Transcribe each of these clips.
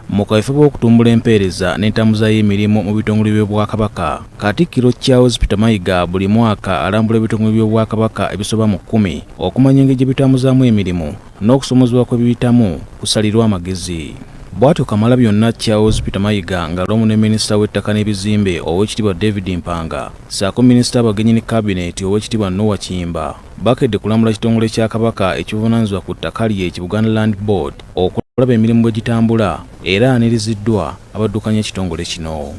mu kaweefube w'okutumbula empeereza n'entambuza y'emirimu mu bitongole by'obwakabaka katikkiro charles peter mayiga buli mwaka alambula ebitongole by'obwakabaka ebisoba mu kkumi okumanya engeri gye bitambuzaamu emirimu n'okusomozebwa kwe biyitamu kusalirwa amagezi bw'atyo kamala byonna charles peter mayiga nga lomu ne minisita w'ettaka n'ebizimbe ow'ekitiibwa david mpanga saako minisita abagenyi ne kabineeti ow'ekitiibwa nowa kiyimba bakedde kulamula kitongole kya kabaka ekivunanyizibwa ku ttaka lye ki buganda land board okulaba emirimu bwe gitambula era aniriziddwa abaddukanya ekitongole kino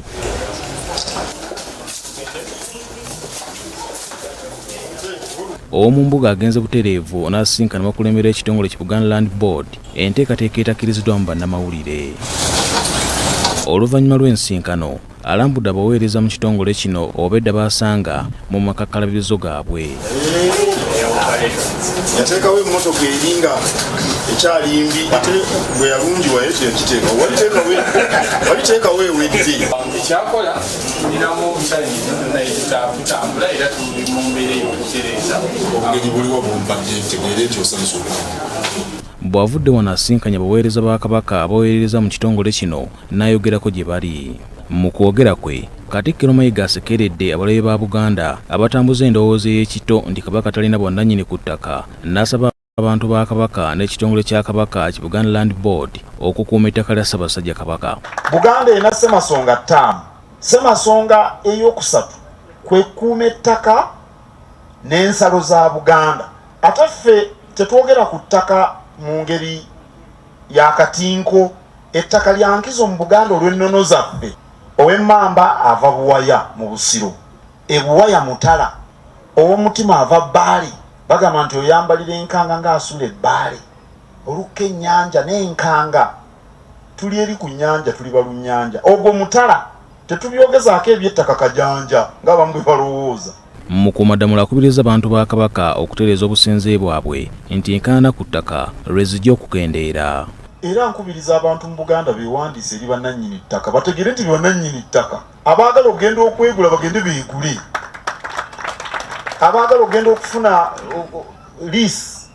ow'omu mbuga agenze butereevu n'asisinkana bakulembera ekitongole ki buganda land board enteekateeka etakiriziddwamu bannamawulire oluvannyuma lw'ensinkano Alambudde abaweereza mu kitongole kino obwedda baasanga mu makakkalabirizo gaabwe. yateekawo emmotoka eri nga ekyali mbi ate bwe yalungiwa ekyo yakiteeka waliteekawo ewedde ekyakola tulinamu omusajjatambula era tuli mu mbeera eyokutereeza obugeri buliwo bumbadde ntegeera ekyo osansuka bw'avudde wano asinkanya baweereza ba kabaka abaweerereza mu kitongole kino n'ayogerako gye bali. Mu kwogera kwe, Katikkiro Mayiga asekeredde abalabe ba Buganda abatambuza endowooza ey'ekito nti Kabaka talina bwannannyini ku ttaka n'asaba abantu ba Kabaka n'ekitongole kya Kabaka ki Buganda Land Board okukuuma ettaka lya Ssaabasajja Kabaka. Buganda erina Ssemasonga ttaano. Ssemasonga ey'okusatu kwe kukuuma ettaka n'ensalo za Buganda. Ate ffe tetwogera ku ttaka mu ngeri ya katinko. Ettaka lya nkizo mu Buganda olw'ennono zaffe. Ow'emmamba ava Buwaya mu Busiro, e Buwaya Mutala. Ow'omutima ava Bbaale, bagamba nti oyambalira enkanga ng'asula e Bbaale. Olukka ennyanja n'enkanga. Tuli eri ku nnyanja tuli balunnyanja. Ogwo mutala. Tetubyogezaako eby'ettaka kajanja ng'abamu bwe balowooza. Mukuumaddamula akubirizza abantu ba Kabaka okutereeza obusenze bwabwe nti enkaayana ku ttaka lwe zijja okukendeera. Era nkubiriza abantu mu Buganda beewandiise eri bannannyini ttaka bategeere nti be bannannyini ttaka. Abaagala okugenda okwegula bagende beegule, abaagala okugenda okufuna liisi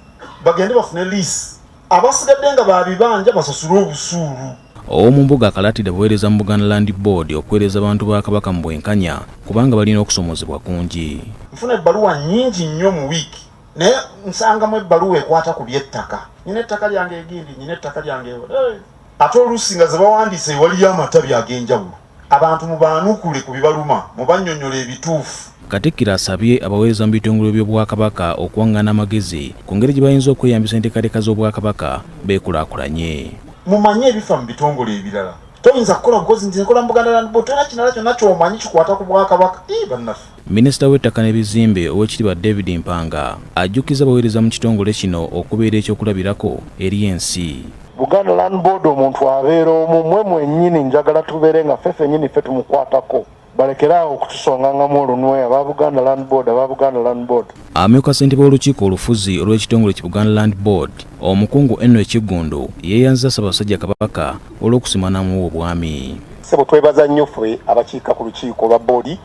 bagende bafune liisi. abasigadde nga babibanja basasule obusuulu. Ow'omumbuga akalaatidde abaweereza mu Buganda Land Board okuweereza abantu ba Kabaka mu bwenkanya kubanga balina okusomoozebwa kungi. Nfuna ebbaluwa nnyingi nnyo mu wiiki naye nsangamu ebbaluwa ekwata ku by'ettaka. Nyina ettaka lyange egindi, nyina ettaka lyange ewala. Ate oluusi nga ze bawandiise waliyo amatabi ag'enjawulo. Abantu mubaanukule ku bibaluma, mubannyonnyole ebituufu. Katikkiro asabye abaweereza mu bitongole by'Obwakabaka okuwang'ana amagezi ku ngeri gye bayinza okweyambisa enteekateeka z'Obwakabaka beekulaakulanye. Mumanye ebifa mu bitongole ebirala. Toyinza kukola bukozi nti nkola mu Buganda Land Board, tolina kirala kyonna ky'omanyi kikwata ku Bwakabaka. Ii, bannaffe! Minisita w'ettaka n'ebizimbe Oweekitiibwa David Mpanga ajjukizza abaweereza mu kitongole kino okubeera ekyokulabirako eri ensi. Buganda Land Board omuntu abeera omu, mwe mwennyini njagala tubeere nga ffe fennyini ffe tumukwatako balekere awo okutusongangamu olunwe aba Buganda Land Board aba Buganda Land Board. Amyuka ssentebe w'olukiiko olufuzi olw'ekitongole ki Buganda Land Board omukungu Enno Ekiggundu yeeyanziza Ssaabasajja Kabaka olw'okusiima n'amuwa obwami. Ssebo twebaza nnyo ffe abakiika ku lukiiko lwa boodi.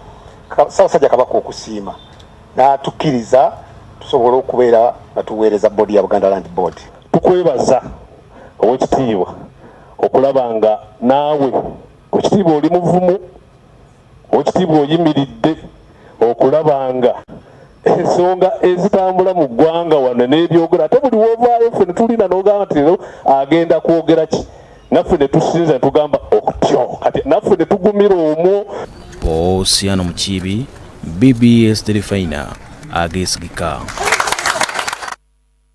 Ssaabasajja Kabaka okusiima n'atukkiriza tusobola okubeera nga tuweereza boodi ya Buganda Land Board. Tukwebaza ow'ekitiibwa okulaba nga naawe ow'ekitiibwa oli muvumu, ow'ekitiibwa oyimiridde okulaba nga ensonga ezitambula mu ggwanga wano n'ebyogera ate buli wovaayo ffe netulina nogamba nti lero agenda kwogera ki naffe netusinza netugamba okutyo kati naffe netugumira omwo posiano mukiibi bbs terefayina agesigika